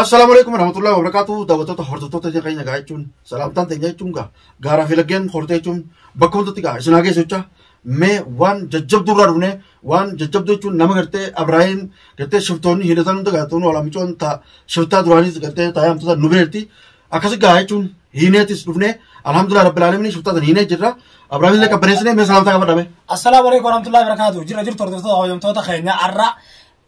Assalaamu alaikum warahmatullahi wabarakatuh daawwattoota hordoftoota ija keenya gaa jechuun salaamtaan teenya jechuun gaa gaaraa fi laggeen hortee jechuun bakka hundatti gaa isin haa geessu jecha mee waan jajjabduu irraa dhufne waan jajjabduu jechuun nama gartee Abrahaam gartee shiftoonni hidhatan hunda gaa tuun walaa micoon taa shiftaa duraaniis gartee taa yaamtota nu beerti akkasi gaa jechuun hiineetis dhufne alhamdulillah rabbil alamin shiftaa tan hiinee jirra Abrahaam illee qabbaneessine mee salaamtaa qabadhame Assalaamu alaikum warahmatullahi wabarakatuh. Jira jirtu hordoftoota hojjamtoota keenya har'a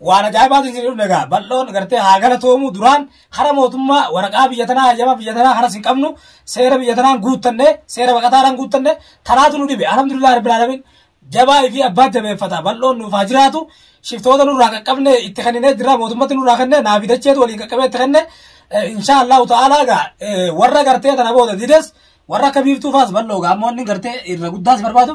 Waan ajaa'ibaatu isin dhufne egaa bal'oon gartee haa galatoomu duraan hara mootummaa waraqaa biyya tanaa hayyama biyya tanaa haras hin qabnu seera biyya tanaan guuttanne seera baqataadhaan guuttanne tanaatu nu dhibe alhamdulillah rabbil alamin jabaa fi abbaa jabeeffata bal'oon nuuf haa jiraatu shiftoota nurraa qaqqabne itti kenninee jira mootummatti nurraa kenne naa fidacheetu waliin qaqqabee itti kenne insha allahu ta'ala egaa warra gartee tana booda dides warra akka biiftuu faas bal'oo egaa ammoo inni gartee irra guddaas barbaadu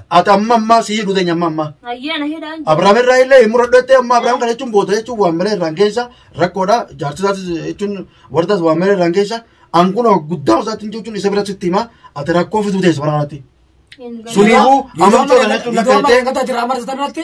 Ati amma ammaa si hidhu teenya amma ammaa. Hayyee na hidhaan jira. Abrahaam irraa illee hin muradhu jettee amma Abrahaam kana jechuun boota jechuun waan malee irraan keessa rakkoodha. Jaarsi isaatis jechuun wardaas waan malee irraan keessa ankuun guddaa isaatti hin jechuun isa bira sitti hima ati rakkoo fiduu teessa waraanatti. Hin galu. Suniifuu amma mucaa kana jechuun akka Iddoo jettee- margataa jira amma irratti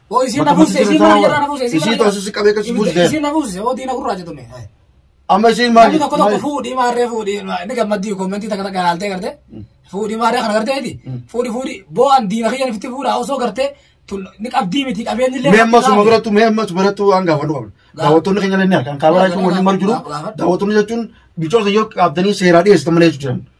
Hoo isiin na buuse, isiin mana jirraa na buuse, isiin mana Isii jirraa. taasisa si qabee kasi buuse. Isiin na buuse, hoo diina gurraacha tunne. Hai. Amma isiin maali? Namni tokko tokko fuudhii maarree fuudhii inni gammaddii kommentii takka takka ilaaltee gartee fuudhii maarree kana gartee miti fuudhii fuudhii boo'an diina kiyyan ifitti fuudhaa osoo gartee tun ni qabdii miti qabeenyi illee Mee amma suma birattu mee amma suma birattu waan gaafadhu qabna. Daawwattoonni keenya illee ni argan. Kaabaa jechuun waliin malu jiru. Daawwattoonni jechuun bicoota yoo qabdanii seeraa dhiyeessitan malee jechuudha.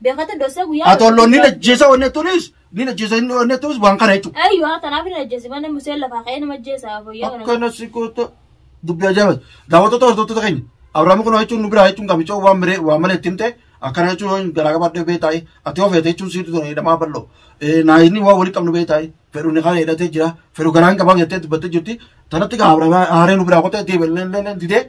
Beekata dosa guyyaa. Atollo ni ajjeesa wanni tunis ni ajjeesa inni wanni tunis waan kana jechuudha. Ayyo haa tanaaf ni ajjeesi mana museen lafaa ka'ee nama ajjeesa fayyaa kana. Akkana si goota dubbii ajaa'iba. Daawwattoota hordoftoota keenya Abiraam kun jechuun nu biraa jechuun gamicha waan miree waan malee itti himte akkana jechuun garaa gabaadhee beektaa ati ofeete jechuun siirri ture hidhamaa bal'oo naayinii waan walitti qabnu beektaa fedhu ni kana hidhatee jira fedhu garaan qabaa jettee dubbattee jirti tanatti gaa haaree nu biraa qottee deebi'e leelleen didee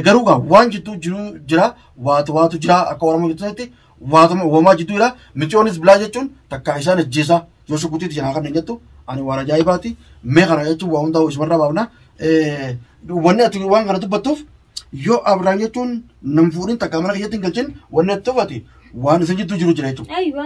garuu gaa waan jidduu jiru jira waatu waatu jira akka oromoo jettutti waatuma uumamaa jidduu jira micoonis bilaa jechuun takkaa isaan ajjeesaa yoo shukutii jira kan hin jettu ani waan ajaa'ibaati mee kana jechuun waa hundaa isumarraa baafna wanni ati waan kana dubbattuuf yoo abraan jechuun nam fuudhin takkaa mana keessatti hin galchin wanni ati tuffati waan isin jidduu jiru jira jechuudha. Aywa.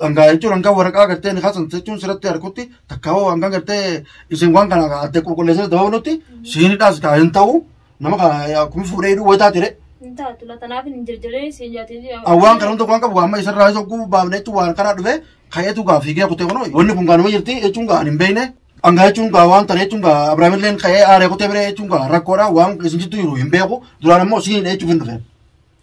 dhangaa jechuun hangaa waraqaa gartee nikaa san jechuun sirratti harkutti takkaawoo hangaa gartee isin waan kana adda qulqulleessee dabalutti siinidhaas kaa hin ta'u nama kaa akkuma fuudhee hidhuu wayitaa ture Hin taatu la tanaaf hin jirjiree siin jaatee jira. awwaan kana hunda waan qabu amma isarraa isa oguu baafne jechuun waan karaa dhufe ka'eetu gaa fiigee kutee kunoo wanni kun gaanuma jirti jechuun gaa hin beekne dhangaa jechuun gaa waan tana jechuun gaa abiraamilleen ka'ee aaree kutee biree jechuun gaa rakkoodha waan isin jittu jiru hin beeku duraan ammoo siinidha jechuuf hin dhufe